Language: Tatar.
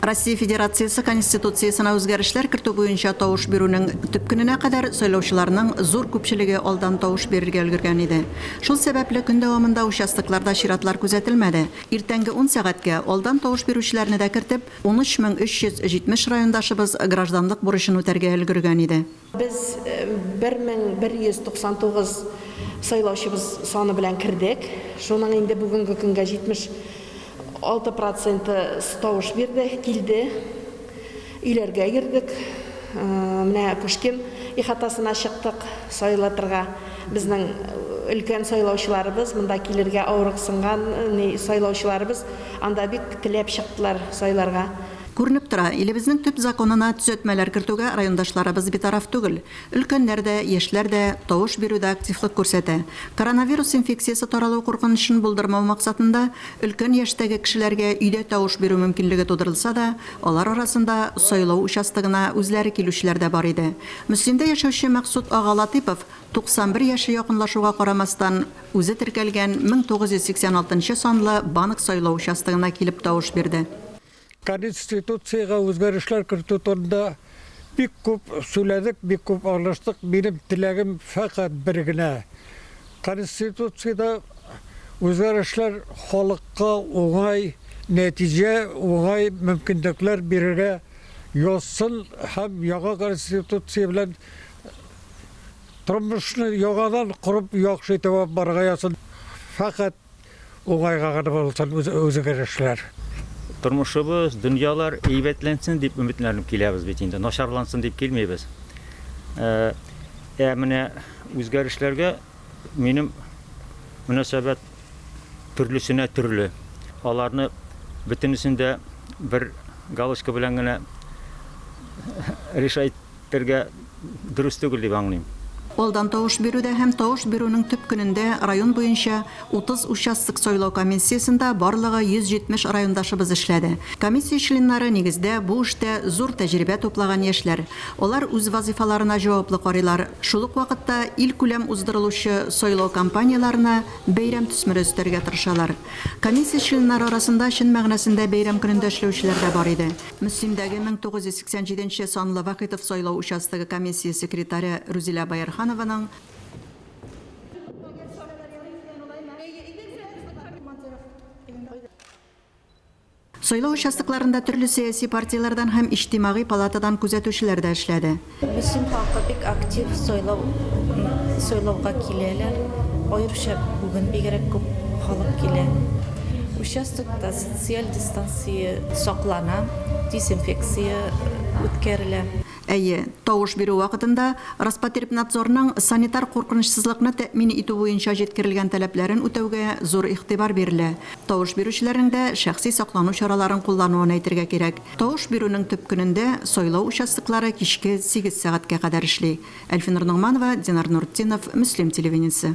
Россия Федерациясе Конституциясенә үзгәрешләр кертү буенча тавыш бирүнең төп көненә кадәр сайлаучыларның зур күпчелеге алдан тавыш бирергә өлгергән иде. Шул сәбәпле, көн дәвамында участокларда чиратлар күзәтелмәде. Иртәнге ун сәгатькә, алдан тавыш бирүчеләрне дә кертеп, 13 мең 370 райондашыбыз гражданлык бурычын үтәргә өлгергән иде. Без 1199 сайлаучыбыз саны белән кердек. Шуның инде бүгенге көнгә 76 проценты тавыш бирде, килде. Өйләргә йөрдек. Менә Пушкин ихатасына чыктык сайлатырга. Безнең өлкән сайлаучыларыбыз, монда килергә авырыксынган сайлаучыларыбыз анда бик теләп чыктылар сайларга. Күренеп тора, илебезнең төп законына төзәтмәләр кертүгә райондашларыбыз битараф түгел. Өлкәннәр дә, яшьләр дә тавыш бирүдә активлык күрсәтә. Коронавирус инфекциясе таралу куркынычын булдырмау максатында, өлкән яшьтәге кешеләргә өйдә тавыш бирү мөмкинлеге тудырылса да, алар арасында сайлау участогына үзләре килүчеләр дә бар иде. Мөслимдә яшәүче Максут ага Латыйпов 91 яше якынлашуга карамастан, үзе теркәлгән 1986 нчы санлы банк сайлау участогына килеп тавыш бирде. Конституциягә үзгәрешләр кертү турында бик күп сүләдек, бик күп аралаштык. Минем теләгем фәкать бер генә, Конституциядә үзгәрешләр халыкка уңай нәтиҗә, уңай мөмкинлекләр бирергә язсын һәм яңа Конституция белән тормышны яңадан корып яхшы итеп алып барырга язсын. Фәкать Уңайга гына булсын үзгәрешләр. Тормышыбыз, дөньялар әйбәтләнсен дип өметләнеп киләбез бит инде, начарлансын дип килмибез. Ә менә үзгәрешләргә минем мөнәсәбәт төрлесенә төрле. Аларны бөтенесен дә бер галочка белән генә решать Бергә дөрес түгел дип аңлыйм. Алдан тавыш бирүдә һәм тавыш бирүнең төп көнендә район буенча 30 участок сайлау комиссиясендә барлыгы 170 райондашыбыз эшләде. Комиссия членнары, нигездә, бу эштә зур тәҗрибә туплаган яшьләр. Алар үз вазыйфаларына җаваплы карыйлар, шул ук вакытта илкүләм уздырылучы сайлау кампанияләренә бәйрәм төсмере өстәргә тырышалар. Комиссия членнары арасында чын мәгънәсендә бәйрәм көнендә эшләүчеләр дә бар иде. Мөслимдәге 1987 нче санлы Вахитов сайлау участогы комиссия секретаре Рүзилә Боярханованың, Сайлау участокларында төрле сәяси партияләрдән һәм Иҗтимагый палатадан күзәтүчеләр дә эшләде. Мөслим халкы бик актив сайлау сайлауга киләләр. Аеруча бүген бигрәк күп халык килә. Участокта социаль дистанция саклана, дезинфекция үткәрелә. Әйе, тавыш бирү вакытында Роспотребнадзорның санитар куркынычсызлыкны тәэмин итү буенча җиткерелгән таләпләрен үтәүгә зур игътибар бирелә. Тавыш бирүчеләрнең дә шәхси саклану чараларын куллануын әйтергә кирәк. Тавыш бирүнең төп көнендә сайлау участоклары кичке сигез сәгатькә кадәр эшли. Әлфинур Ногманова, Динар Нуртдинов, Мөслим телевидениесе.